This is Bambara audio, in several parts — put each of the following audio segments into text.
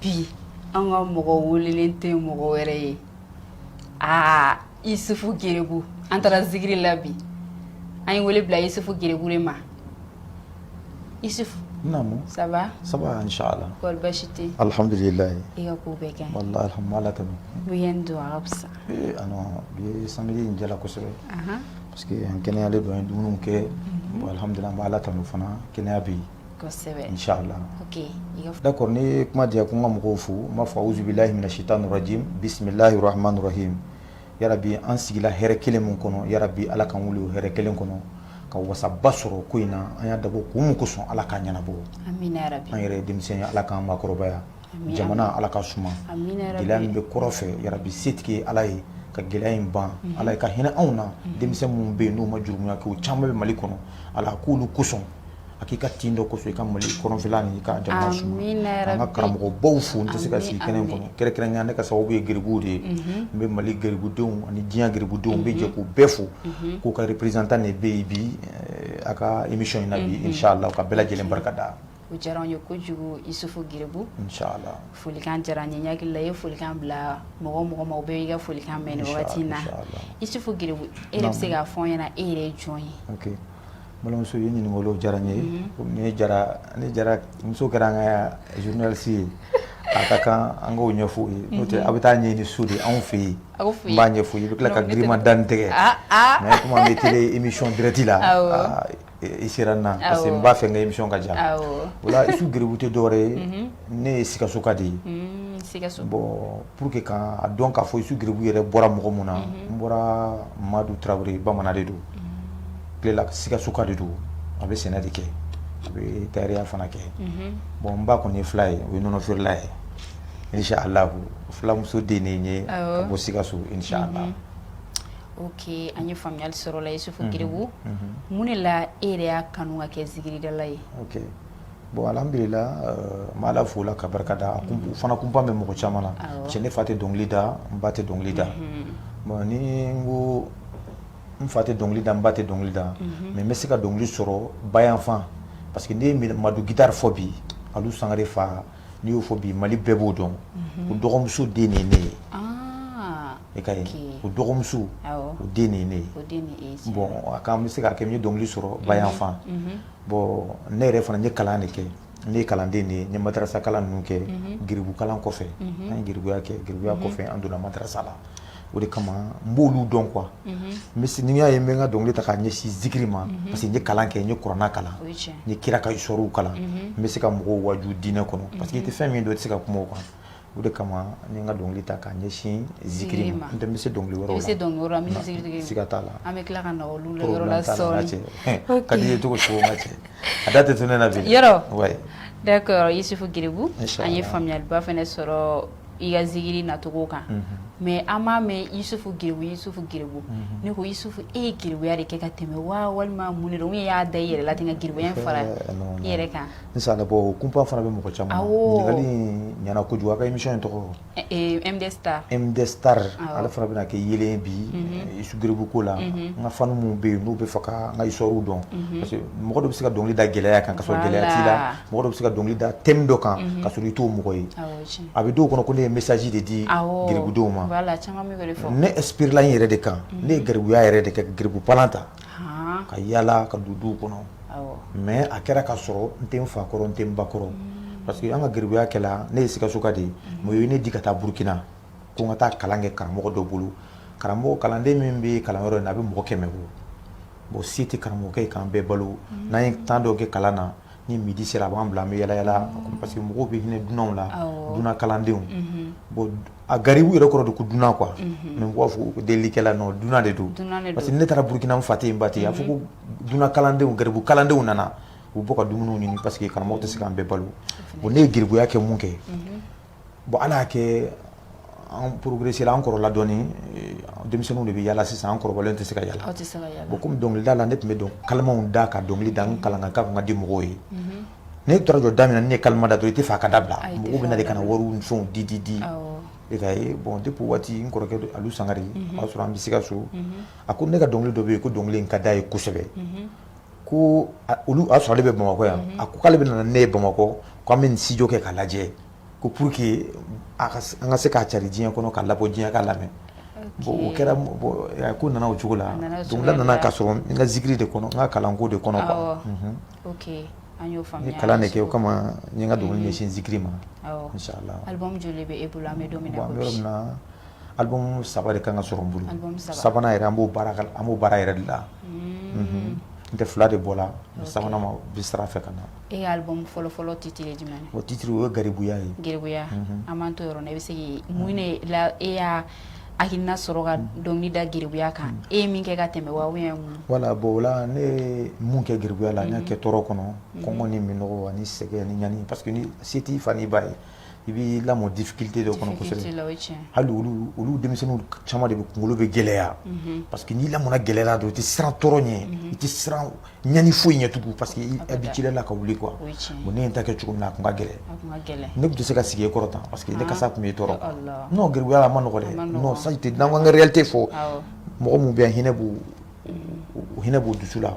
bi an ka mɔgɔ welelen tɛ mɔgɔ wɛrɛ ye aa isufu gerebu an taara zikiri la bi an ye wele bila isufu gerebu ma i ça va ça va alihamidulilayi i ka ko bɛɛ kɛhamala tɛmɛ u ye don a fisa u ye san in jala kosɛbɛ parce que an kɛnɛyalen don ye dumuni kɛ alihamidulilayi ala tanu fana kɛnɛya bɛ yen kosɛbɛ inchallah ok i ka f d'accord n'i ye kuma di yan ko n ka mɔgɔw fo n b'a fɔ auzubilahi mina cheitanir rajim bisimilahi rahmani rahim yarabi an sigila hɛrɛ kelen min kɔnɔ yarabi ala k'an wuli o hɛrɛ kelen kɔnɔ ka wasaba sɔrɔ ko in na an y'a dabɔ kun min kosɔn ala k'a ɲɛnabɔ amina yarabi an yɛrɛ ye denmisɛn ye ala k'an maakɔrɔbaya Jamana ala k'a suma gɛlɛya min bɛ kɔrɔn fɛ yarabi setigi ye ala ye ka gɛlɛya in ban ala ye ka hinɛ anw na denmisɛn minnu bɛ yen n'u ma jurumu kɛ caman bɛ mali kɔnɔ ala k'olu kosɔn a k'i ka tin dɔ kɔfɛ i ka mali kɔrɔnfɛla ni ka jamana suma an ka karamɔgɔbaw fo tɛ se ka sigi kɛnɛ kɔnɔ kɛrɛnkɛrɛn ne ka sababu ye gerebu de ye n bɛ mali gerebudenw ani diɲɛ gerebudenw bɛɛ jɛ k'u bɛɛ fo k'u ka représentant de bɛ yen bi a ka émission in na bi su la ka bɛɛ lajɛlen barika da o diyara n ye kojugu isufu gerebu folikan diyara n ye ɲagakila ye folikan bila mɔgɔ o mɔgɔ ma bɛ i ka folikan mɛn waati in na isufu gerebu e bɛ se k'a fɔ ɲɛna e yɛrɛ ye jɔn ye balimamuso ye ɲininkakolo diyara n ye jara ni jara muso kɛra an ka journaliste ye a ka kan an' ɲɛfɔ ye tɛ a bɛ taa ɲɛ ni so de anw fɛ yen b'a ɲɛfɔ i bɛ tila ka giirima dantigɛ mais kuma bɛ t émission direct la i sera na parce que n b'a fɛ n ka émission ka diya awɔ o la isufu gerebu tɛ dɔwɛrɛ ye unhun ne ye sikasoka de ye unn sikaso bon pour que ka a dɔn k'a fɔ isufu gerebu yɛrɛ bɔra mɔgɔ mun na unhun n bɔra Madu Tarawele bamanan de don unhun kulela sikassoka de don a bɛ sɛnɛ de kɛ a bɛ tailleurya fana kɛ unhun bon n ba kɔni ye fula ye o ye nɔnɔ feerela ye inchallahu fulamuso den de ye n ye awɔ ka bɔ sikasso inchallah unhun Ok an ye faamuyali sɔrɔ o la isufu gerebu mun de la e yɛrɛ y'a kanu ka kɛ zikiridala ye bon ala bɛla ma ala fo la ka barika da fana tun ba bɛ mɔgɔ caman na cɛ ne fa tɛ dɔnkili da n ba tɛ dɔnkili da ni ko n fa tɛ dɔnkili da n ba tɛ dɔnkili da mais n bɛ se ka dɔnkili sɔrɔ ba yanfan parce que n'i ye madu gitari fɔ bi a sangare fa n'i y'o fɔ bi mali bɛɛ b'o dɔn ko dɔgɔmuso den ye ne ye e ka o dɔgɔmuso o den nin ne ye bon a k'an bɛ se ka kɛ ye dɔnkili sɔrɔ ba yanfan bon ne yɛrɛ fana ye kalan de kɛ ne ye kalanden de ye matarasa kalan ninnu kɛ gkala kɔfɛ an ye geribuya kɛ geribuya kɔfɛ an donna matarasa la o de kama n b'olu dɔn quoi misi n y'a ye bɛ ka dɔnkili ta k'a ɲɛsin zikiri ma parce que n ye kalan kɛ n ye kuranɛ kalan ni kira ka sorow kalan n bɛ se ka mɔgɔw waju diinɛ kɔnɔ parce que i tɛ fɛn min dɔn i tɛ se ka kuma a kan O de kama n ye n ka dɔnkili ta k'a ɲɛsin zikiri ma, n'o tɛ n bɛ se dɔnkili wɛrɛw la, i bɛ se dɔnkili wɛrɛw la min ni zikiri tɛ kelen ye, siga t'a la, an bɛ tila ka na olu la yɔrɔ la sɔɔnin, a ka d'i ye cogo o cogo n ka cɛ, a da tɛ to ne la bilen, yɔrɔ, oui, d'accord Isuf Giribu, inchallah, an ye faamuyaliba fana sɔrɔ i ka zikiri nacogo kan, unhun, mais an b'a mɛn Isuf Giribu, Isuf Giribu, unhun, ne ko Isuf e ye geribuya de kɛ ka tɛmɛ wa walima mun de don ou bien i y'a da i yɛrɛ la ten ka geribuya in fara i yɛrɛ kan N san bɔ o kunpa fana bɛ mɔgɔ caman ɲɛna ko kojugu a imi in tɔgɔ tari ale fana bɛna kɛ ye bi suguku ko la n ka fan minnu bɛ yen n'u bɛ fɔ ka n ka iw dɔn parce que mɔgɔ bɛ se ka dɔnkili da gɛlɛya kan ka gɛlɛya la mɔgɔ bɛ se ka dɔnkili da thème dɔ kan ka sɔrɔ i t'o mɔgɔ ye a bɛ don kɔnɔ ko ne ye mesazi de di geribudenw ma ne inspirer la n yɛrɛ de kan ne ye geribuya yɛrɛ de kɛ geribu pan ta ka yaala ka don du kɔnɔ mais a kɛra ka sɔrɔ n tɛ n fa kɔrɔ n tɛ n ba kɔrɔ parce que an ka geribuya kɛla ne ye sikasoka de ma ye ne di ka taa burukina ko n ka taa kalan kɛ karamɔgɔ dɔ bolo karamɔgɔ kalanden min bɛ kalanyɔrɔ in na a bɛ mɔgɔ kɛmɛ bɔ bon se tɛ karamɔgɔkɛ ye k'an bɛɛ balo n'an ye temps dɔ kɛ kalan na ni midi sera a b'an bila an bɛ yaala yaala a ko parce que mɔgɔw bɛ hinɛ dunanw la dunan kalandenw bon a garibu yɛrɛ kɔrɔ de ko dunan quoi mais u b'a fɔ ko delikɛla non dunan de don parce que ni ne taara Burukina n fa tɛ yen n ba tɛ yen a bɛ fɔ ko dunan kalandenw garibu kalandenw nana u bɛ bɔ ka dumuniw ɲini parce que karamɔgɔ tɛ se k'an bɛɛ balo bon ne ye geribuya kɛ mun kɛ. Bon ala y'a kɛ an progresser la an kɔrɔla dɔn denmisɛnninw de bɛ yaala sisan an kɔrɔlen tɛ se ka yaala bon kɔmi dɔnkilidala ne tun bɛ don kalimaw da ka dɔnkili da kalankan ka ka di mɔgɔw ye ne tora jɔ daminɛ ne kali da to i tɛ faa ka da bila mɔgɔw bɛna de ka wari fɛnw di di di e ka bon tɛ ko waati n kɔrɔkɛ dɔ ali sangare o y'a sɔrɔ an bɛ sikaso a ko ne ka dɔnkili dɔ bɛ yen ko dɔnkili in ka d'a ye kosɛbɛ ko olu y'a sɔrɔ ale bɛ bamakɔ yan a ko k'ale bɛ na ni ne ye bamakɔ k'an bɛ studio kɛ k'a lajɛ ko pour que an ka se k'a cari diɲɛ kɔnɔ k'a labɔ diɲɛ k'a lamɛn bon o kɛra ko n nana o cogo la dɔnkilida nana ka sɔrɔ n ka zikiri de kɔnɔ n ka kalanko de kɔnɔ n ye kalan de kɛ o kama n ka dɔnkili ɲɛsin zikiri ma Album 3 de ka kan ka sɔrɔ n bolo, album 3, sabanan yɛrɛ an b'o baara an b'o baara yɛrɛ de la, unhun, n'o tɛ 2 de bɔ la mais sabanan ma bɛ sira fɛ ka na, e ka album fɔlɔ fɔlɔ titre ye jumɛn ye? O titre o ye garibuya ye, garibuya, unhun, an b'an t'o yɔrɔ la, i bɛ se k'i mun de la e y'a hakilina sɔrɔ ka dɔnkili da garibuya kan e ye min kɛ ka tɛmɛ wa ou bien mun, voilà bon o la ne ye mun kɛ garibuya la n y'a kɛ tɔɔrɔ kɔnɔ, kɔngɔ ni minɔgɔ ani sɛgɛn ani ɲani parce que ni se t'i fa n'i ba ye i b'i lamɔ difficulté dɔ kɔnɔ kosɛbɛ, difficulté la o ye tiɲɛ ye, hali olu olu denmisɛnninw caman de bɛ kunkolo bɛ gɛlɛya, unhun, parce que n'i lamɔna gɛlɛya la dɔrɔn i tɛ siran tɔɔrɔ ɲɛ, unhun, i tɛ siran ɲani foyi ɲɛ tugun parce que i habitué la ka wuli quoi, o ye tiɲɛ ye, bon ne ye n ta kɛ cogo min na a tun ka gɛlɛn, a tun ka gɛlɛn, ne tun tɛ se ka sigi e kɔrɔ tan parce que ne kasa tun b'i tɔɔrɔ, non gɛribuya a man nɔgɔn dɛ, non ça je te n'an ko an ka réalité fɔ, awɔ, mɔgɔ minnu bɛ yan hinɛ b'u hinɛ b'u dusu la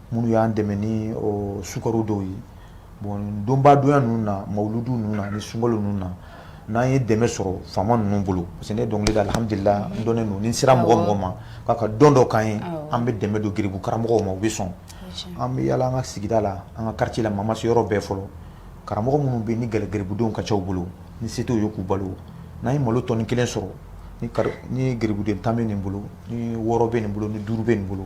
minnu y'an dɛmɛ ni sukaro dɔw ye bon donbadonya ninnu na mawludu ninnu na ani sunkalo ninnu na n'an ye dɛmɛ sɔrɔ faama ninnu bolo parce que ne dɔnkili da alihamudulila n dɔnnen don ni n sera mɔgɔ o mɔgɔ ma k'a ka don dɔ k'an ye an bɛ dɛmɛ don geribu karamɔgɔw ma u bɛ sɔn an bɛ yaala an ka sigida la an ka quartier la mais an ma se yɔrɔ bɛɛ fɔlɔ karamɔgɔ minnu bɛ yen ni geribudenw ka ca u bolo ni se t'u ye k'u balo n'an ye malo tɔni kelen sɔrɔ ni geribuden tan bɛ nin bolo ni wɔɔrɔ bɛ nin bolo ni duuru bɛ nin bolo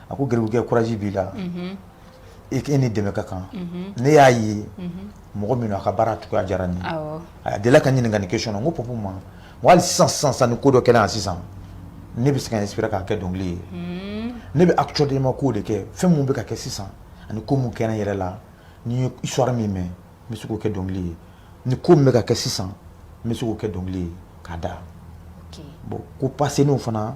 A ko garibukɛ courage b'i la e ni dɛmɛ ka kan ne y'a ye mɔgɔ min a ka baara cogoya diyara nin a deli ka ɲininka nin ke sɔn ko p ma wali sisan sisan ni ko dɔ kɛra yan sisan ne bɛ se ka sin k'a kɛ dɔnkili ye ne bɛ a cden ma koo de kɛ fɛn min bɛ ka kɛ sisan ani ko mun kɛ yɛrɛ la ni ye sɔwa min mɛn n bɛ se k'a kɛ dɔnkili ye ni ko bɛ ka kɛ sisan n bɛ se k'a kɛ dɔnkili ye ka da bon ko pa seninw fana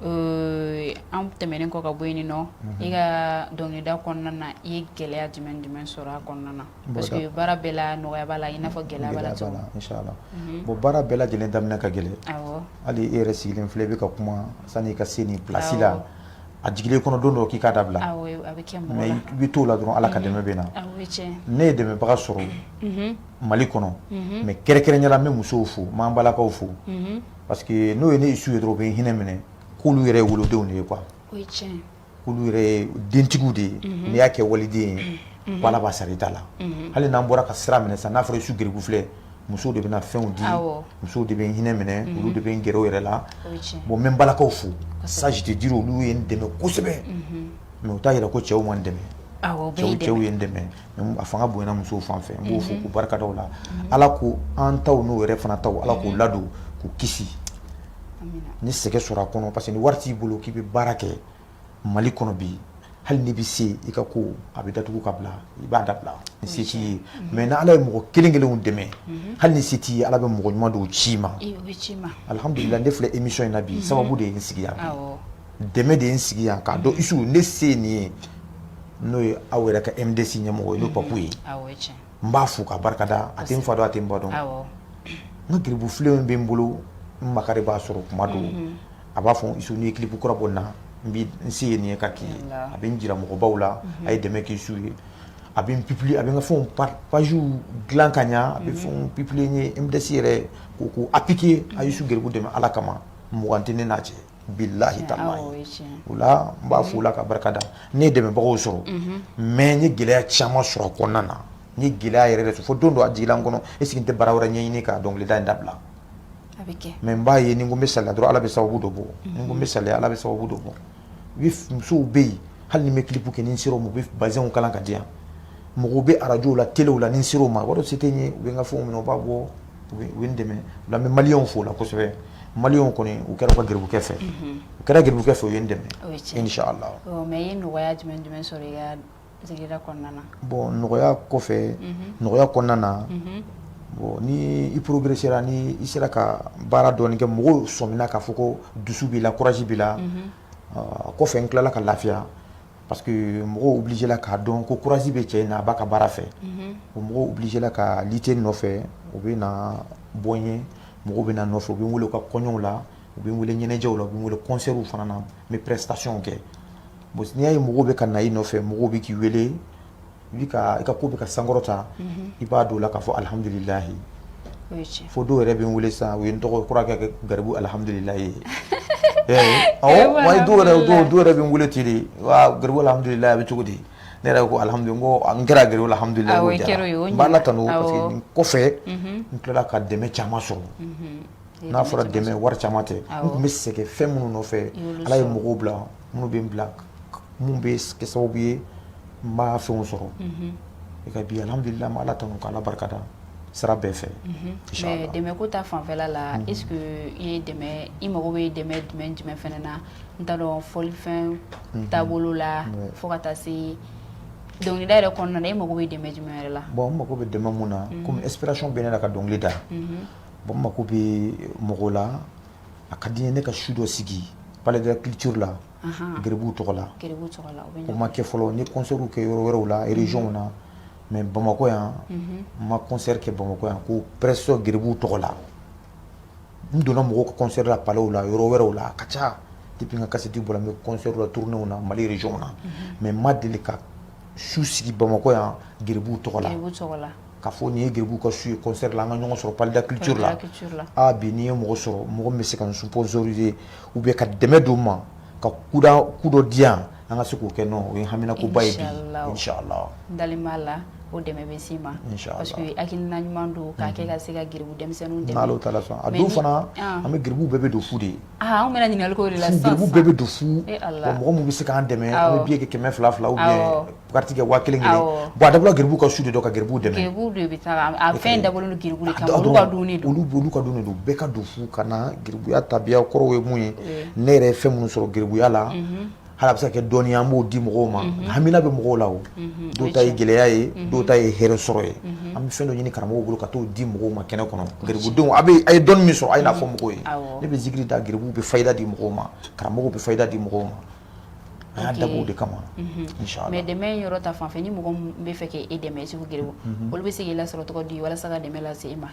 Euh, an tɛmɛnen kɔ ka bɔ yen nɔ mhm. i ka dɔnkilida kɔnɔna na i ye gɛlɛya jumɛn jumɛn sɔrɔ a kɔnɔna na parce que baara bɛɛ la nɔgɔya b'a la i n'a fɔ gɛlɛya b'a la cogo min na mhm. bon baara bɛɛ lajɛlen daminɛ ka gɛlɛn awɔ hali e yɛrɛ sigilen filɛ i bɛ ka kuma sani i ka se nin place la a jigila i kɔnɔ don dɔ k'i k'a dabila awɔ a bɛ kɛ mɔgɔ la mais i bɛ t'o la dɔrɔn Ala ka mhm. dɛmɛ bɛ na awɔ o ye tiɲɛ ye ne ye dɛmɛbaga sɔrɔ Mali kɔnɔ mais kɛrɛnkɛrɛnya la n bɛ musow fo n b'an balakaw fo Parce que n'u ye ne su ye dɔrɔn u bɛ hinɛ minɛ k'olu yɛrɛ wolodenw de ye quoi k'olu yɛrɛ dentigiw de ye n'i y'a kɛ waliden ye Ala b'a sara i ta la hali n'an bɔra ka sira minɛ sisan n'a fɔra sugu filɛ muso de bɛ fɛnw di muso de bɛ hinɛ minɛ olu de bɛ n g yɛrɛ la bon n bɛ balakaw fo c'est-à-dire olu ye n dɛmɛ kosɛbɛ mais o t'a jira ko cɛw ma n dɛmɛ cɛw ye n dɛmɛ a fanga bonyana musow fan fɛ n b'u fo k'u barikada u la Ala ko an taw n'u yɛrɛ fana taw Ala k'u ladon k'u kisi n ye sɛgɛn sɔrɔ a kɔnɔ parce que ni wari t'i bolo k'i bɛ baara kɛ Mali kɔnɔ bi hali n'i bɛ se i ka ko a bɛ datugu ka bila i b'a dabila ni se t'i ye mais ni Ala ye mɔgɔ kelen kelenw dɛmɛ hali ni se t'i ye Ala bɛ mɔgɔ ɲuman dɔw ci i ma alihamudulila ne filɛ émission in na bi sababu de ye n sigi yan bi. dɛmɛ de ye n sigi yan k'a dɔn isu ne se ye nin ye n'o ye aw yɛrɛ ka MDC ɲɛmɔgɔ ye n'o ye Papu ye n b'a fo k'a barikada a tɛ n fa dɔn a tɛ n ba dɔn n ka garibu filenw bɛ n bolo n makari b'a sɔrɔ tuma dɔw a b'a fɔ isu n'i ye kilipu kura bɔ nin na n se ye nin ye ka k'i ye a bɛ n jira mɔgɔbaw la a ye dɛmɛ kɛ isu ye a bɛ n publier a bɛ n ka fɛnw paziw dilan ka ɲɛ a bɛ fɛnw publier n ye MDC yɛrɛ k'u appikiye a ye isu garibu dɛmɛ Ala kama mugan tɛ ne n'a cɛ. bilahi ta o la n b'a fo o la ka barikada ne ye dɛmɛbagaw sɔrɔ mais n ye gɛlɛya caman sɔrɔ a kɔnɔna na ni gɛlɛya yɛrɛ de fo don dɔ a jiginna n kɔnɔ est ce que n tɛ baara wɛrɛ ɲɛɲini ka dɔnkilida in dabila mais n b'a ye ni ko bɛ sa dɔrɔn ala bɛ sababu dɔ bɔ ni ko bɛ sa ala bɛ sababu dɔ bɔ musow bɛ yen hali n bɛ clip kɛ ni sera u bɛ bazɛnw kala ka di yan mɔgɔw bɛ arajo la telew la ni n sera u ma ko se tɛ n ye u bɛ n ka fɛn minɛ u b'a bɔ u ye n dɛmɛ o la n bɛ maliw fo o la kosɛbɛ mali kɔni u kɛra u ka garibukɛ fɛ u kɛra garibukɛ fɛ u ye n dɛmɛ o la bon nɔgɔya kɔfɛ nɔgɔya kɔnɔna na bon ni i progresséra ni i sera ka baara dɔɔnin kɛ mɔgɔw sɔmina k'a fɔ ko dusu b'i la kuraji b'i la kɔfɛ n tilala ka lafiya parce que mɔgɔw obligéla k'a dɔn ko kuraji bɛ cɛ in na a b'a ka baara fɛ bon mɔgɔw obligéla ka wuli ten n nɔfɛ u bɛ na bɔ n ye mɔgɔw bɛ na n nɔfɛ u bɛ n wele u ka kɔɲɔw la u bɛ n wele ɲɛnajɛw la u bɛ n wele konsɛriw fana na n bɛ prestation kɛ bon n'i y'a ye mɔgɔw bɛ ka na i nɔfɛ mɔgɔw bɛ k'i wele i ka ko bɛ ka sankɔrɔta i b'a dɔn o la k'a fɔ alihamdulilayi fo dɔw yɛrɛ bɛ n weele sa u ye n tɔgɔ kɔrɔkɛ kɛ garibu alihamdulilayi bɛɛ yɛrɛ bɛ n weele ten de garibu hamdulila a bɛ cogo di ne yɛrɛ ko n kɛra garibu hamdulila tan kɔfɛ n tilala ka dɛmɛ caman sɔrɔ n'a fɔra dɛmɛ wari caman tɛ n tun bɛ sɛgɛn fɛn minnu nɔfɛ ala ye mɔgɔw bila minnu bɛ bila minnu bɛ kɛ sababu ye n b'a fɛnw sɔrɔ i ka bi alhamdulila n bɛ Ala tanu ka Ala barikada sira bɛɛ fɛ mais dɛmɛ ko ta fanfɛla la est ce que i ye dɛmɛ i mago bɛ dɛmɛ jumɛn ni jumɛn fana na n t'a dɔn fɔlifɛn taabolo la fo ka taa se dɔnkilida yɛrɛ kɔnɔna na e mago bɛ dɛmɛ jumɛn yɛrɛ la bon n mago bɛ dɛmɛ min na komi inspiration bɛ ne la ka dɔnkili da bon n mago bɛ mɔgɔ la a ka di n ye ne ka su dɔ sigi palais de la culture la gbu tɔgɔ la o ma kɛ fɔlɔ ni kɔsɔn kɛ yɔrɔ wɛrɛw la reyw na mɛ bamakɔ yan ma kɔnɔnri kɛ bamakɔ yan ko pɛso gbu tɔgɔ la n donna mɔgɔ kɔnɔnla paww la yɔrɔ wɛrɛw la a ka ca de ka kasi di bɔra bɛla turnenw na mali reyw na mɛ ma deli ka su sigi bamakɔ yan gbu tɔgɔ la ka fɔ nin ye geribu ka su ye concert la an ka ɲɔgɔn sɔrɔ Palais de la culture la, Palais de la culture la, aa bi n'i ye mɔgɔ sɔrɔ mɔgɔ min bɛ se ka n sponsoriser ou bien ka dɛmɛ don n ma ka coup da coup dɔ di yan an ka se k'o kɛ non o ye haminakoba ye bi inchallahu n dalen b'a la o dɛmɛ bɛ s'i ma inchallahu parce que hakilina ɲuman don k'a kɛ ka se ka geribu denmisɛnninw dɛmɛ n'Alahu taala sɔnna a don fana an bɛ geribu bɛɛ bɛ don fu de Aa an bɛna ɲininkali k'o de la sisan sisan, garibu bɛɛ bɛ don fu, e Ala, wa mɔgɔ minnu bɛ se k'an dɛmɛ an bɛ billet kɛ kɛmɛ fila fila ou bien carte kɛ waa kelen kelen, awɔ, bon a dabɔra garibuw ka su de kama ka garibuw dɛmɛ, garibuw de bɛ taa a fɛn in dabɔlen don garibuw de kama olu ka dumuni don, olu ka dumuni don bɛɛ ka don fu ka na garibuya tabiya kɔrɔw ye mun ye ne yɛrɛ ye fɛn minnu sɔrɔ garibuya la Hali a bɛ se ka kɛ dɔnniya ye an b'o di mɔgɔw ma, unhun, hamina bɛ mɔgɔw la o, unhun, dɔw ta ye gɛlɛya ye, unhun, dɔw ta ye hɛrɛ sɔrɔ ye, unhun, an bɛ fɛn dɔ ɲini karamɔgɔw bolo ka t'o di mɔgɔw ma kɛnɛ kɔnɔ, kosɛbɛ, garibudenw a bɛɛ a ye dɔnni min sɔrɔ a ye n'a fɔ mɔgɔw ye, awɔ, ne bɛ zikiri da garibuw bɛ fayida di mɔgɔw ma karamɔgɔw bɛ fayida di mɔgɔw ma an y'a dabɔ o de kama, unhun, inchallah mais dɛmɛ in yɔrɔ ta fanfɛ ni mɔgɔ min bɛ fɛ k'e dɛmɛ Isufu geribu, unhun, olu bɛ se k'i lasɔrɔ cogo di walasa ka dɛmɛ lase e ma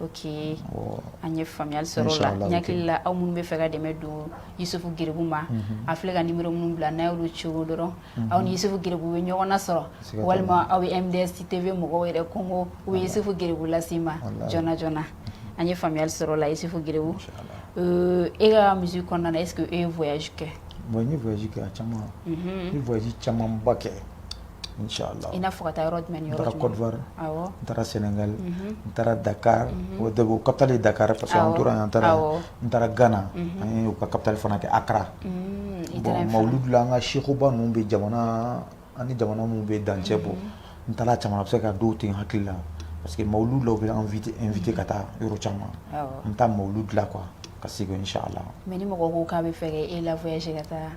Oke an ye faamuyali sɔrɔ lajɛlila aw minnu bɛ fɛ ka dɛmɛ don isufu geribu ma a filɛ ka numéro minnu bila n'a y'u cɔgɔ dɔrɔn aw ni isufu geribu bɛ ɲɔgɔn nasɔrɔ walima aw bɛ mds tv mɔgɔw yɛrɛ kogo u bɛ isufu geribu lase a' ma joona joona an ye faamuyali sɔrɔ o la isufu geribu e ka musique kɔnɔna e e ye kɛ kɛ caman camanba kɛ I n'a fɔ ka taa yɔrɔ jumɛn n taara côte d'ivoire n taara sénégal n taara dakar o de capitale dakar parce an tora an taara n taara ghana a capitale fana kɛ accra bon maouloud la an ka sɛkuba ninnu bɛ jamana ani jamana minnu bɛ dancɛ bɔ n taara caman bɛ se ka don tɛ n hakili la parce que maouloud dɔw bɛ an inviter ka taa yɔrɔ caman n taa maouloud la qu ka segin si la mɛ ni mɔgɔ ko k'a bɛ fɛ e la ka taa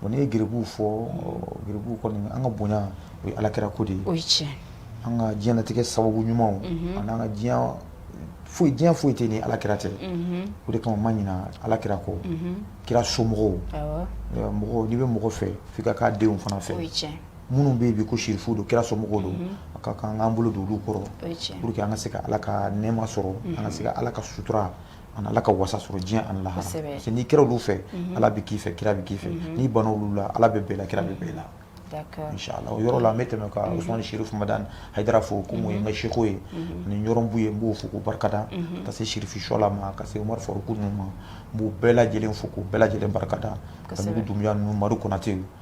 Bon n'i ye geribu fɔ geribu kɔni an ka bonya o ye ala kira ko de ye o ye an ka diɲɛlatigɛ sababu ɲumanw ani an ka diɲɛ foyi diɲɛ foyi tɛ ni ala kira tɛ o de kama n ma ɲinɛ ala kira kɔ kira somɔgɔw mɔgɔ n'i bɛ mɔgɔ fɛ fo k'a denw fana fɛ minnu bɛ bi ko sirifu don kira somɔgɔw don a ka kan an k'an bolo don olu kɔrɔ que an ka se ka ala ka nɛma sɔrɔ an ka se ka ala ka sutura An ala ka wasa sɔrɔ diɲɛ ani lahara n'i kɛra olu fɛ ala bɛ k'i fɛ kira bɛ k'i fɛ n'i banna olu la ala bɛ ban i la kira bɛ ban i la o yɔrɔ la n bɛ tɛmɛ ka Usumani Sirifi Madani Hayidara fo ko min ye n ka seko ye ani Ɲɔrɔn Buye n b'o fo k'o barika da ka se sirifi shla ma ka se Umaru Faruku ninnu ma n b'u bɛɛ lajɛlen fo k'u bɛɛ lajɛlen barika da ka Dunbiya ninnu amaduri Konatɛ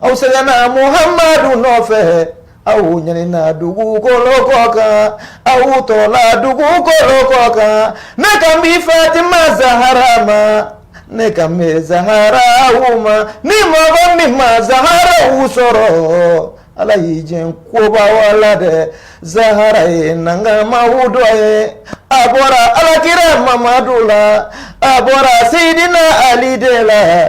aw sɛgɛnna muhamadu nɔfɛ aw ɲanina dugukolo kɔ kan aw tɔɔrɔla dugukolo kɔ kan ne kan bi Fatima Zahara ma ne kan bɛ Zaharawu ma ni mɔgɔ min ma Zaharawu sɔrɔ Ala y'i jɛn kobaw la dɛ Zahara ye nankamaw dɔ ye a bɔra alakira Mamadu la a bɔra Seyidina Ali de la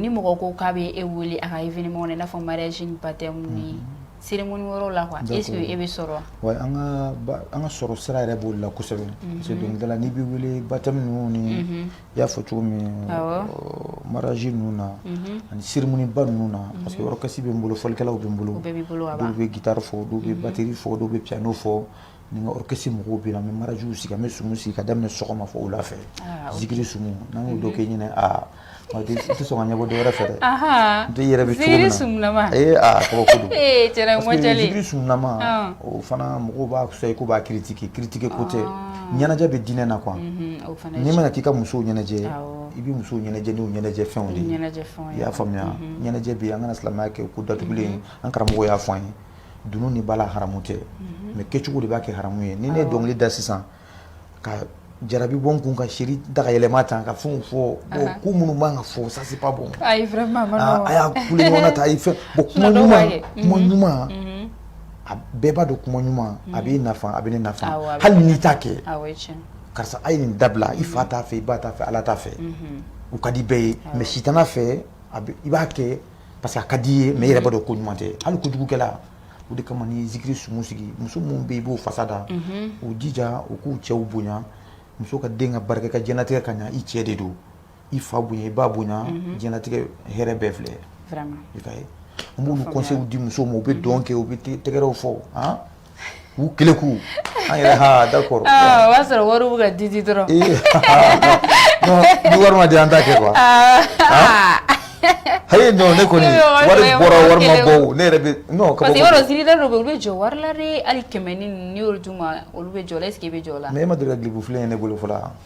Ni mɔgɔ ko k'a bɛ e weele a ka i ɲɔgɔn n'a fɔ mariage baptême ninnu se ŋ yɔrɔ la e e bɛ sɔrɔ wa an ka sɔrɔ sira yɛrɛ b'o la kosɛbɛ dɔnkili la n'i bɛ wele baptême ninnu na i y'a fɔ cogo min maraji ninnu na ani cérémonieba ninnu na parce que orchestre bɛ n bolo fɔlikɛlaw bɛ n bolo bɛ gitari fɔ dɔw bɛ batri fɔ dɔw bɛ piano fɔ ni n ka orchestre mɔgɔw bɛ na n bɛ marajiw sigi an bɛ sumu sigi ka daminɛ sɔgɔma fo wula fɛ ah, zikiri sumu n'an y'o dɔ kɛ ɲinan aa i tɛ sɔn ka ɲɛ bɔ dɔ wɛrɛ fɛ dɛ n tɛ yɛrɛ bɛ cogo min na zikiri sumunama ee aa kɔrɔ ko don parce que zikiri sumunama ah. o fana mɔgɔw b'a fisa i ko b'a critiquer critiquer ko tɛ ah. ɲɛnajɛ bɛ diinɛ na quoi mhm, n'i mana k'i ka musow ɲɛnajɛ i bɛ musow ɲɛnajɛ n'u ɲɛnajɛ fɛnw de ye i y'a faamuya mhm. ɲɛnajɛ bɛ yen an kana silamɛya kɛ ko datugulen mhm. an karamɔgɔ y'a fɔ an ye dunun ni bala haramu tɛ mais kɛcogo de b'a kɛ haramu ye ni n ye dɔnkili da sisan ka jarabi bɔ kun ka se daga yɛlɛma tan ka fɛn fɔ ko minnu b'an ka fɔ sasiba bɔ a y'a ta fɛ kuma ɲuman kuma ɲuman an bɛɛ b'a dɔn kuma ɲuman a bɛ nafa a bɛ ne nafa hali n'i t'a kɛ karisa a ye nin dabila i fa t'a fɛ i ba t'a fɛ ala t'a fɛ u ka di bɛɛ ye mais sitanɛ fɛ i b'a kɛ parce que a ka d'i ye mais i yɛrɛ b'a dɔn ko ɲuman tɛ hali kojugukɛla o de kama ni zikiri sumu sigi muso minnu bɛ yen i b'u fasa da u jija u k'u cɛw bonya muso ka den ka barika ka diɲɛlatigɛ ka ɲa i cɛ de don i fa bonya i ba bonya diɲɛlatigɛ hɛrɛ bɛɛ filɛ i ka ye n b'olu conseils di musow ma u bɛ dɔn kɛ u bɛ tɛgɛrɛw fɔ k'u kelen k'u an yɛrɛ ha d'accord o b'a sɔrɔ wari bɛ ka di di dɔrɔn ni wari ma di an t'a kɛ quoi ayi non ne kɔni wari bɔra wari ma bɔ ne yɛrɛ bɛ non parce que yɔrɔ zikirida dɔw bɛ olu bɛ jɔ wari la de hali kɛmɛ ni n'i y'olu d'u ma olu bɛ j'o la est ce que i bɛ jɔ o la mais e ma deli ka clip filen ye ne bolo fɔlɔ wa.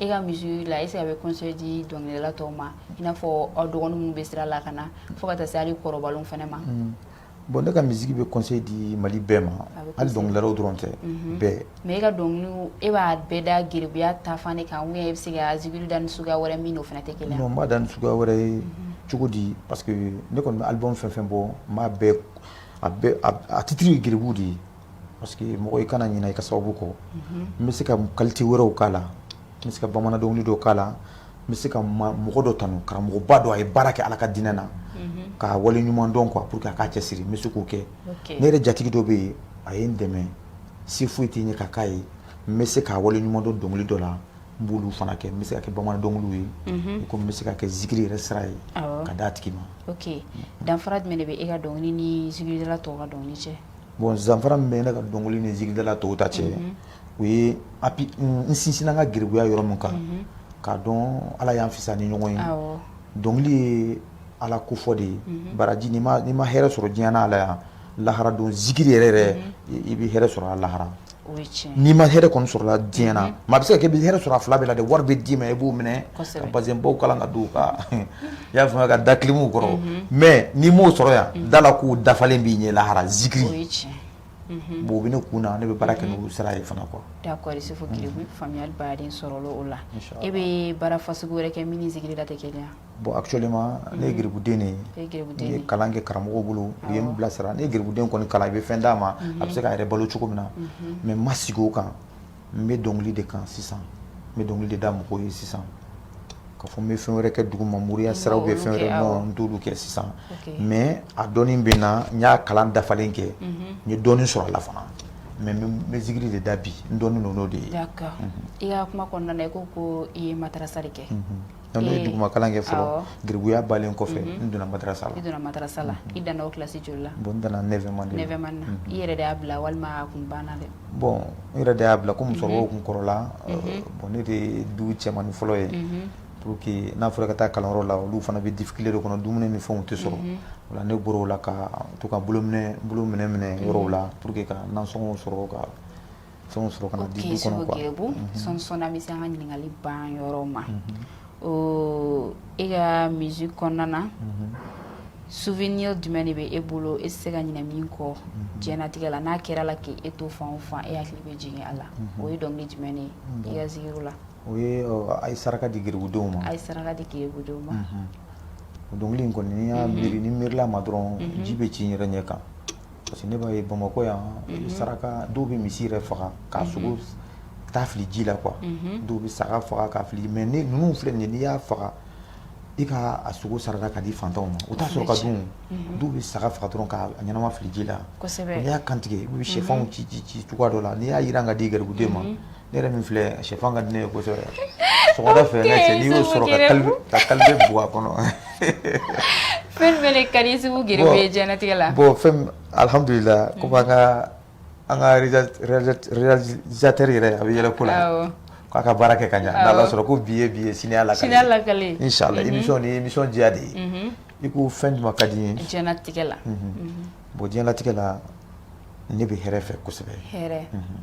E ka musique la est-ce qu'a bɛ conseil di dɔnkilidala tɔw ma i n'a fɔ aw dɔgɔnin minnu bɛ sira la ka na fo ka taa se ali kɔrɔbalenw fana ma bon ne ka musique bɛ conseil di mali bɛɛ ma ali dɔnkilidala dɔrɔn tɛ bɛɛ mɛ e ka dɔnkili e b'a bɛɛ da geribuya ta fan de kan bɛ se ka zikiri da ni suguya wɛrɛ min o fana tɛ kelen n b'a da ni suguya wɛrɛ ye cogo di parce que ne kɔni mana album fɛn fɛn bɔ n' a titiri ye geribu de ye Parce que mɔgɔ i kana ɲinɛ i ka sababu kɔ n bɛ se ka qualité wɛrɛw k'a la n bɛ se ka bamanan dɔw don k'a la n bɛ se ka mɔgɔ dɔ tanu karamɔgɔba don a ye baara kɛ ala ka diinɛ na k'a wale ɲuman dɔn kɔ pour que k'a cɛ siri n bɛ se k'o kɛ ne yɛrɛ jatigi dɔ bɛ yen a ye n dɛmɛ si foyi tɛ ɲɛ ka'a ye n bɛ se k'a wale ɲuman dɔn dɔnkili dɔ la n b'olu fana kɛ n bɛ se ka kɛ bamanan dɔnkili ye ko n bɛ se ka kɛ zikiri yɛrɛ sira ye k'a di a tigi ma danfara jumɛn de bɛ e ka dɔnkili ni tɔw ka dɔnkili cɛ Bon danfara min bɛ ne ka dɔnkili ni zikiridala tɔw ta cɛ o ye n sinsinna n ka geribuya yɔrɔ min kan k'a dɔn ala y'an fisa ni ɲɔgɔn ye dɔnkili ye ala ko fɔ de ye baraji n'i ma hɛrɛ sɔrɔ diɲɛ na a la yan lahara don zikiri yɛrɛyɛrɛ i bɛ hɛrɛ sɔrɔ a la lahara n'i ma hɛrɛ kɔni sɔrɔ a la diɲɛ na mais i bɛ se ka hɛrɛ sɔrɔ a fila bɛɛ la dɛ wari bɛ d'i ma i b'o minɛ ka bazin baw kala ka don ka i ya faamaya ka da kilimu kɔrɔ mais n'i m'o sɔrɔ yan da a la k'o dafalen b'i ɲɛ lahara zikiri bon bɛ ne kun na ne bɛ baara kɛ n'o sara ye fana quoi sɔrɔ o la e bɛ baara fasɔn wɛrɛ kɛ min ni zikiri tɛ kɛ Bon actuellement unhun, ne ye geribuden de ye, n ye kalan kɛ karamɔgɔ bolo, awɔ, u ye n bilasira n'i ye geribuden kɔni kalan i bɛ fɛn d'a ma, unhun, a bɛ se k'a yɛrɛ balo cogo min na, unhun, mais n ma sigi o kan, n bɛ dɔnkili de kan sisan, n bɛ dɔnkili de da mɔgɔw ye sisan, k'a fɔ n bɛ fɛn wɛrɛ kɛ duguma moriya sira ou bien fɛn wɛrɛ non n t'olu kɛ sisan, ok, mais a dɔnni bɛ n na n y'a kalan dafalen kɛ, unhun, n ye dɔɔnin sɔrɔ a la fana mais n bɛ zikiri de da bi n dɔnnen don n'o de ye, d'accord i ka kuma kɔnɔna na i ko ko i ye madarasa de kɛ, unhun. N ye duguma kalan kɛ fɔlɔ geribuya bannen kɔfɛ n donna madrasa la i donna madrasa la i danna kilasi joli la n danna neuvième na i yɛrɛ y'a bila walima tun banna dɛ bon n yɛrɛ de y'a bila comme somɔgɔw tun kɔrɔla bon ne de du cɛmannin fɔlɔ ye pour que n'a fɔra ka taa kalanyɔrɔ la olu fana bɛ difficulté de kɔnɔ dumuni ni fɛnw tɛ sɔrɔ voilà ne bɔra ka to ka boulot minɛ minɛ yɔrɔ la pour que ka nasɔngɔ sɔrɔ ka fɛnw sɔrɔ ka na di du kɔnɔ quoi ok sɔɔni sɔɔni an bɛ se an ka ɲininkali ban yɔrɔ ma e ka musique kɔnɔna na souvenir jumɛn de bɛ e bolo e tɛ se ka ɲinɛ min kɔ diɲɛnatigɛ la n'a kɛra la k'e to fan o fan e hakili bɛ jigin a la o ye dɔnkili jumɛn de ye i ka zikiriw la o ye a ye saraka di geribudenw ma a ye saraka di geribudenw ma o dɔnkili in kɔni n'i y'a miiri ni n miirila a ma dɔrɔn ji bɛ ci n yɛrɛ ɲɛ kan Parce que ne b'a ye bamakɔ yan saraka dɔw bɛ misi yɛrɛ faga k'a sogo ta ka fili ji la dɔw bɛ saga faga ka fili mais ni ninnu filɛ nin n'i y'a faga i k'a sogo saraka ka di fantanw ma u t'a sɔrɔ ka dun dɔw bɛ saga faga dɔrɔn ka ɲɛnama fili ji la n'i y'a kantigɛ i bɛ shɛfanw ci ci ci cogoya dɔ la n'i y'a jiran ka di garibuden ma Ne yɛrɛ min filɛ shɛfan ka di ne ye kosɛbɛ sɔgɔmada fɛ ne cɛ n'i y'o sɔrɔ ka kalebe ka kalebe bugɔ a kɔnɔ fɛn min bɛ ne ka di i ye kosɛbɛ diɲɛlatigɛ la bon fɛn min alhamdulila komi an ka an ka réalisateur yɛrɛ a bɛ yɛlɛ ko la awɔ k'a ka baara kɛ ka ɲa n'Ala sɔnna ko bi ye bi ye sini y'a lakali sini y'a lakali inchallah émission nin ye émission diya de ye unhun i ko fɛn jumɛn ka di n ye diɲɛlatigɛ la unhun bon diɲɛlatigɛ la ne bɛ hɛrɛ fɛ kosɛbɛ hɛrɛ unhun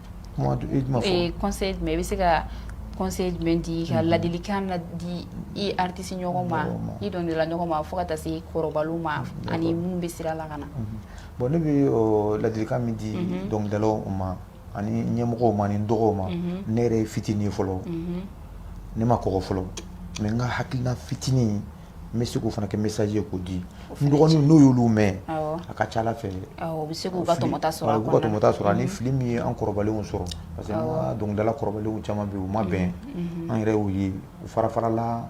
kuma i ma fɔ ee conseil jumɛn i bɛ se ka conseil jumɛn di ka mhm. ladilikan na di i artiste ɲɔgɔn ma i dɔnkilidala ɲɔgɔn ma fo ka taa se kɔrɔbalenw ma mhm. ani minnu bɛ sira la ka na mhm. bon ne bɛ ladilikan min di dɔnkilidalaw ma ani ɲɛmɔgɔw ma ani n dɔgɔw ma ne yɛrɛ ye fitinin ye fɔlɔ ne ma kɔgɔ fɔlɔ mais n ka hakilina fitinin n bɛ se k'o fana kɛ message ye k'o di n dɔgɔninw n'o y'olu mɛn a ka ca Ala fɛ u bɛ se k'u ka tɔmɔta sɔrɔ a kɔnɔ u bɛ se k'u ka tɔmɔta sɔrɔ ani fili min ye an kɔrɔbalenw sɔrɔ parce que an ka dɔnkilidala kɔrɔbalenw caman bɛ yen u ma bɛn an yɛrɛ y'u ye u fara-farala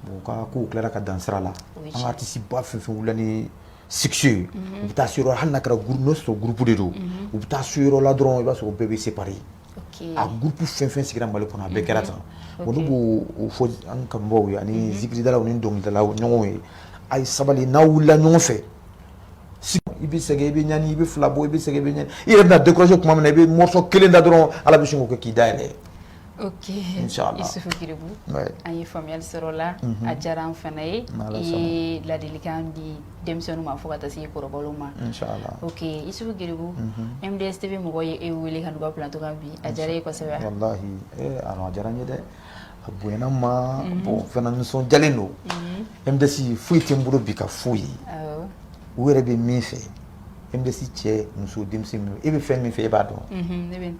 u ka kow tilara ka dan sira la an ka artiste ba fɛn o fɛn wulila ni sigi ye u bɛ taa se yɔrɔ hali n'a kɛra n'o sɔrɔ groupe de don u bɛ taa se yɔrɔ la dɔrɔn i b'a sɔrɔ bɛɛ bɛ séparer groupe fɛn fɛn sigira mali kɔnɔ a bɛɛ kɛra tan olu b'o fɔ an kanubaw ye ani zikiridala ni dɔnkilidala ɲɔgɔn ye a ye sabali n'aw wulila ɲɔgɔn fɛ i bɛ sɛgɛn i bɛ ɲani i bɛ fila bɔ i bɛ sɛgɛn i bɛ ɲani i yɛrɛ bɛna décourager tuma min na i bɛ morceau kelen da dɔrɔn ala bɛ sin k'o kɛ k'i da yɛlɛ ok isufu kiribu an ye faamuyali sɔrɔ la a diyara an fana ye i ye ladilikan di denmisɛnninw ma fo ka taa se kɔrɔbaw ma ok isufu kiribu MDS TV mɔgɔ ye e wele ka na u ka plateau kan bi a diyara e kosɛbɛ walahi a diyara n ye dɛ a bonyana n ma bon fana nisɔndiyalen don MDS foyi tɛ n bolo bi ka f'u ye u yɛrɛ bɛ min fɛ MDS cɛ muso denmisɛnnin e bɛ fɛn min fɛ e b'a dɔn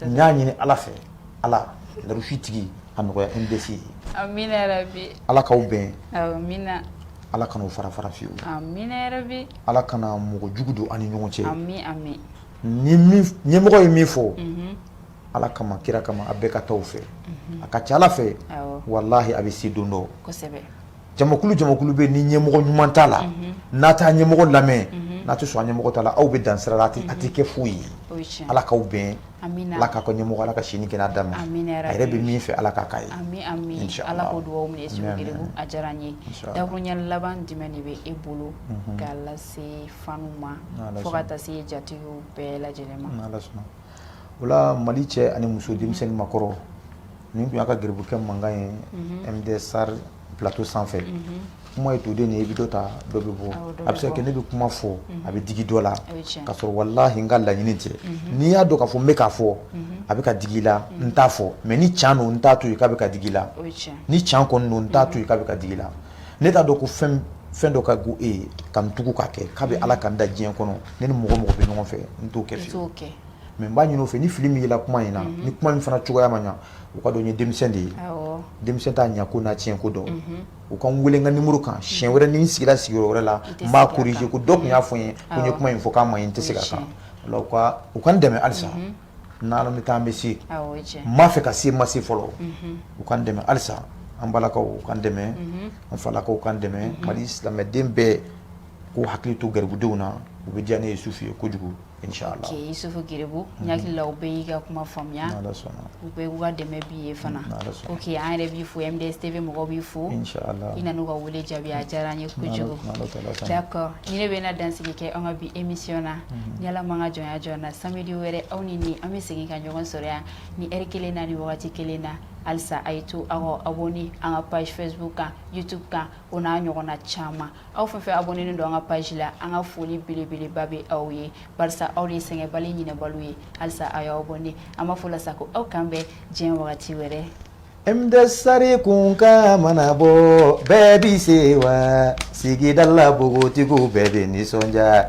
n y'a ɲini Ala fɛ. ala latigi a nɔgɔya n bɛ se ala k'aw bɛn ala kana fara fara fiye ala kana mɔgɔ jugu don aw ni ɲɔgɔn cɛ ɲɛmɔgɔ ye min fɔ ala kama kira kama a bɛɛ ka taa o fɛ a ka ca ala fɛ walahi a bɛ se don dɔ jamakulu jamakulu bɛ ni ɲɛmɔgɔ ɲuman t'a la n'a t'a ɲɛmɔgɔ lamɛn n'a tɛ sɔn a ɲɛmɔgɔ ta la aw bɛ dan sira la a tɛ kɛ foyi ye ala k'aw bɛn Ala ka ka ɲɛmɔgɔ ala ka sini kɛ da ma a yɛrɛ bɛ min fɛ ala k'a k'a ye ala k'o dugawu minɛ su a diyara n ye dakurunya laban jumɛn de bɛ e bolo k'a lase fanw ma fo ka taa se jatigiw bɛɛ lajɛlen ma wala mali cɛ ani muso denmisɛn ni maakɔrɔ nin tun y'aw ka garibukɛ mankan ye MDS sari plateau sanfɛ kuma ye toden nin ye i bɛ dɔ ta dɔ bɛ bɔ a bɛ se ka kɛ ne bɛ kuma fɔ a bɛ digi dɔ la k'a sɔrɔ walahi n ka laɲini tɛ n'i y'a dɔn ka fɔ n bɛ k'a fɔ a bɛ ka digi i la n t'a fɔ mais ni can don n t'a to yen k'a bɛ ka digi i la ni can kɔni don n t'a to yen k'a bɛ ka digi i la ne t'a dɔn ko fɛn fɛn dɔ ka go e ye ka n tugu k'a kɛ kabini Ala ka n da diɲɛ kɔnɔ ne ni mɔgɔ mɔgɔ bɛ ɲɔgɔn fɛ n t'o kɛ fiyewu mais n b'a ɲini u fɛ ni fili min yela kuma in na ni kuma in fana cogoya ma ɲɛ u k'a dɔn n ye denmisɛn de ye denmisɛn t'a ɲɛko n'a tiɲɛko dɔn u ka n weele ka ni muru kan siɲɛ wɛrɛ ni n sigira sigiyɔrɔ wɛrɛ la n b'a kuru ko dɔ tun y'a fɔ n ye ko n ye kuma in fɔ kuma in tɛ se ka kan u k'an dɛmɛ halisa n bɛ taa an bɛ se m ma fɛ ka se ma se fɔlɔ u k'an dɛmɛ halisa an balakaw k'an dɛmɛ an falakaw k'an dɛmɛ mali silamɛden bɛɛ k'u hakili to garibudenw na o bɛ diya ne Yisufu ye kojugu Ke Yisufu garibu ɲagakililaw bɛɛ y'i ka kuma faamuya u bɛɛ ka dɛmɛ b'i ye fana ko k' an yɛrɛ b'i fo yan bɛ se mɔgɔ b'i fo i nana ka weele jaabi diyara an ye kojugu ni ne bɛ na dansigi kɛ an ka bi émission na ni ala man ka jɔn jɔ na sari wɛrɛ aw ni nin an bɛ segin ka ɲɔgɔn sɔrɔ yan nin lɛri kelen na nin waati kelen na halisa a ye to aw abonné an ka page facebook kan youtube kan o n'a ɲɔgɔn na caman aw fɛn fɛn abonnénen don an ka page la an ka foli belebeleba bɛ aw ye barisa aw de ye sɛgɛnbali ɲinɛbaliw ye halisa aw y'aw abonné an b'a fɔ la sa ko aw k'an bɛn diɲɛ wagati wɛrɛ MDS sari kunkan mana bɔ bɛɛ b'i sewa sigida la npogotigiw bɛɛ bɛ nisɔndiya